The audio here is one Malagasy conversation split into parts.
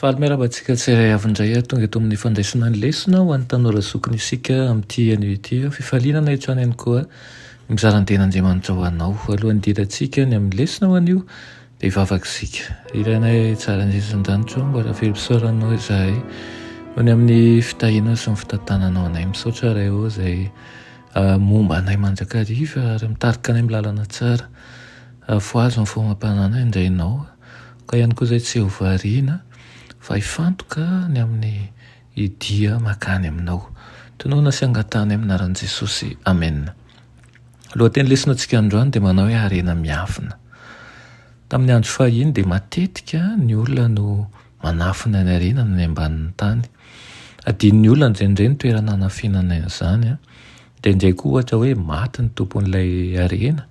Faly miarahaba antsika tsirairay avy indray ary tonga eto amin'ny fandraisana ny lesona ho an'ny tanora zokiny isika amin'ity anio ity. Fifaliana anay hatrany ihany koa ny mizara ny Tenin'Andriamanitra ho anao. Alohan'ny hidirantsika ny amin'ny lesona ho anio dia hivavaka isika. Ry Ranay tsara indrindra eto an-danitra ô, mbola velom-pisaoranao izahay noho ny amin'ny fitahianao sy ny fitantananao anay. Misaotra Ray ô izay momba anay mandrakariva ary mitarika anay amin'ny lalana tsara. Fohazo ny fomam-pananay indray Ianao. Ka ihany koa izay tsy ho variana fa hifantoka ny amin'ny dia makany aminao. Tonona sy angatahana amin'ny anaran'i Jesosy. Amena. Lohateny lesonatsika androany dia manao hoe harena miafina. Tamin'ny andro fahiny dia matetika ny olona no manafina ny harena any ambanin'ny tany. Adinon'ny olona indraindray ny toerana hanafinana izany dia indraindray koa ohatra hoe maty ny tompon'ilay harena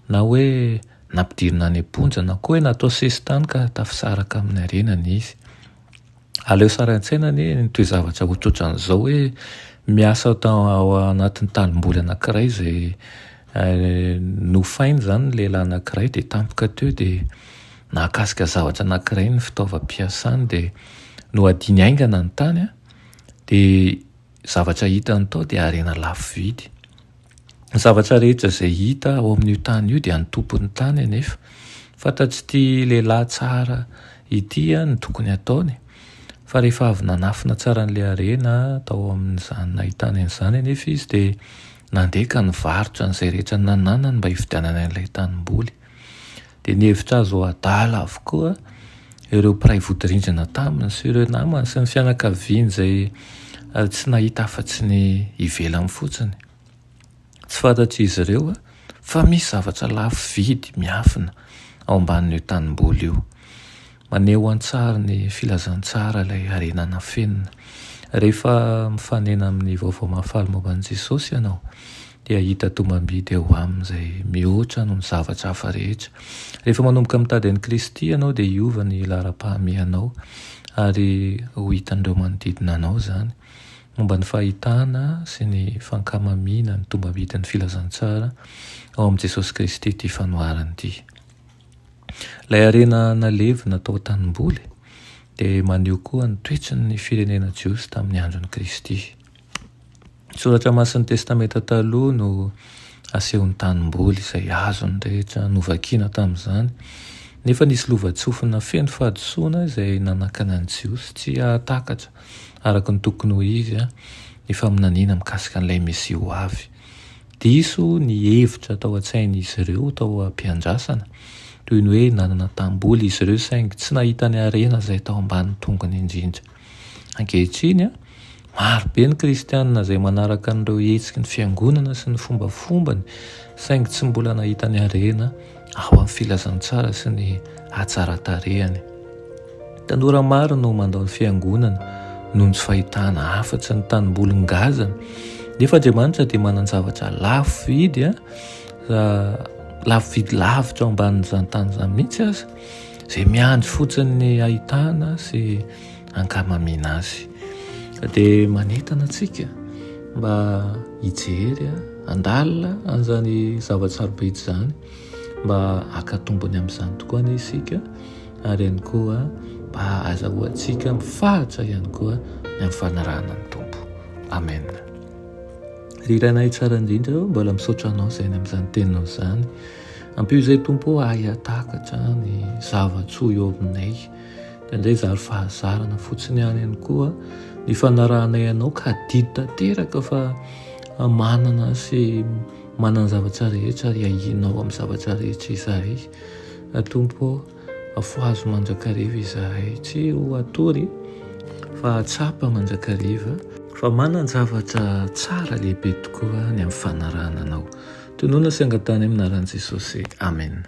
na hoe Nampidirina any am-ponja na koa hoe natao sesitany ka tafisaraka amin'ny harenany izy. Aleo sary an-tsaina anie ny toe-javatra ho tsoatran'izao hoe miasa ao anatin'ny tanimboly anankiray izay nofainy izany ny lehilahy anankiray dia tampoka teo dia nahakasika zavatra anankiray ny fitaovam-piasany dia nohadiany haingana ny tany dia Ny zavatra hitany tao dia harena lafo vidy. Ny zavatra rehetra izay hita ao amin'io tany io dia ny tompon'ny tany anefa. Fantatr'ity lehilahy tsara ity ny tokony hataony fa rehefa avy nanafina tsara an'ilay harena tao amin'izany nahitany an'izany anefa izy dia nandeha ka nivarotra an'izay rehetra nananany mba hividianany an'ilay tanimboly. dia nihevitra azy ho adala avokoa ireo mpiray vodirindrina taminy sy ireo namany sy ny fianakaviany izay eh, tsy nahita afa-tsy ny ivelany fotsiny. Tsy fantatr'izy ireo eh, fa misy zavatra lafo vidy miafina ao ambanin'io tanimboly io. Maneho an-tsary ny filazantsara ilay harena nafenina. Rehefa mifanena amin'ny vaovao mahafaly momba an'i Jesosy ianao, dia hahita tombam-bidy eo aminy izay mihoatra noho ny zavatra hafa rehetra. Rehefa manomboka mitady an'i Kristy ianao, dia hiova ny laharam-pahamehanao, ary ho hitan'ireo manodidina anao izany. Momba ny fahitana sy ny fankamamiana ny tombam-bidin'ny filazantsara ao amin'i Jesosy Kristy ity fanoharana ity. Ilay harena nalevina tao an-tanimboly dia maneho koa ny toetry ny firenena jiosy tamin'ny andron'i Kristy. Ny soratra masin'ny Testamenta Taloha no asehon'ny tanimboly izay azon'ny rehetra novakiana tamin'izany, nefa nisy lovantsofina feno fahadisoana izay nanakana ny Jiosy tsy hahatakatra araka ny tokony ho izy ny faminaniana mikasika an'ilay Mesia ho avy. Diso ny hevitra tao an-tsain'izy ireo tao am-piandrasana, toy ny hoe nanana tam-bola izy ireo saingy tsy nahita ny harena izay tao ambanin'ny tongony indrindra. Ankehitriny, maro be ny Kristianina izay manaraka an'ireo hetsiky ny Fiangonana sy ny fombafombany, saingy tsy mbola nahita ny harena ao amin'ny filazantsara sy ny hatsaran-tarehany. Tanora maro no mandao ny fiangonana noho ny tsy fahitana afa-tsy ny tanimboly ngazana. Nefa Andriamanitra dia manan-javatra lafo vidy, lafo vidy lavitra ambanin'izany tany izany mihitsy aza, izay miandry fotsiny ny ahitana sy ankamamiana azy. Dia manentana antsika mba hijery handalina an'izany zava-tsarobidy izany mba haka tombony amin'izany tokoa anie isika ary ihany koa mba hahazahoantsika mifahatra ihany koa ny amin'ny fanarahana ny Tompo. Amen. Ry Ranay tsara indrindra, mbola misaotra anao izay ny amin'izany teninao izany. Ampio izay Tompo ahy hahatakatra ny zava-tsoa eo aminay. dia indray zary fahazarana fotsiny ihany ihany koa ny fanarahanay anao ka adidy tanteraka fa manana sy manana zavatra rehetra ary ahianao amin'ny zavatra rehetra izahay atompo afohazo mandrakariva izahay tsy ho atory fa atsapa mandrakariva fa manana zavatra tsara lehibe tokoa ny amin'ny fanarahana anao tonona sy angatahana amin'ny anaran'i Jesosy amen